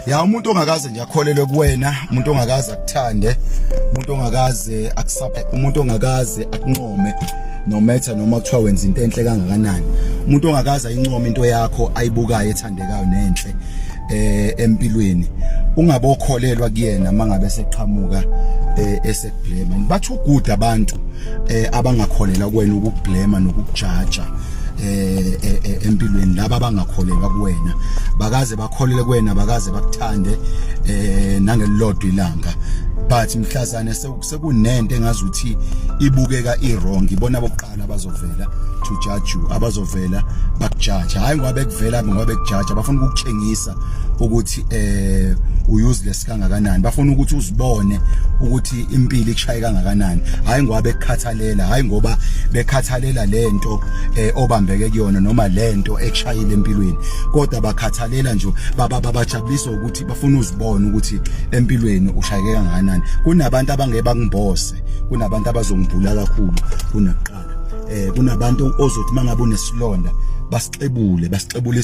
ya umuntu ongakaze nje akholelwe kuwena umuntu ongakaze akuthande umuntu ongakaze akusaphe umuntu ongakaze akunqome no matter noma kuthiwa wenza into enhle kangakanani umuntu ongakaze ayincome into yakho ayibukayo ethandekayo nenhle eh empilweni ungabokholelwa kuyena mangabe seqhamuka eh blema bathi uguda abantu eh abangakholela kuwena ukublema nokujaja eh, eh, eh empilweni laba abangakholelwa kuwena bakaze bakholele kuwena bakaze bakuthande eh nangelilodwa ilanga but mhlazane sekunento engazi ukuthi ibukeka iwrong ibona bokuqala abazovela to judge you abazovela bakujaja hayi ngoba bekuvela ngoba bekujaja bafuna ukukutshengisa ukuthi eh useless kangakanani bafuna ukuthi uzibone ukuthi impilo ikushaye kangakanani hayi ngoba bekukhathalela hayi ngoba bekhathalela lento eh, obambeke kuyona noma lento ekushayile empilweni kodwa bakhathalela nje baba babajabulisa ukuthi bafuna uzibone ukuthi empilweni ushayeke kangakanani kunabantu abangeba kumbose kunabantu abazongibhula kakhulu kunakuqala eh kunabantu ozothi mangabe unesilonda basixebule basixebule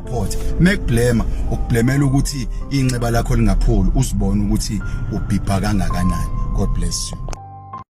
Port mekblema ukublemela ukuthi inxeba lakho lingapholi uzibone ukuthi ubhibha kangakanani God bless you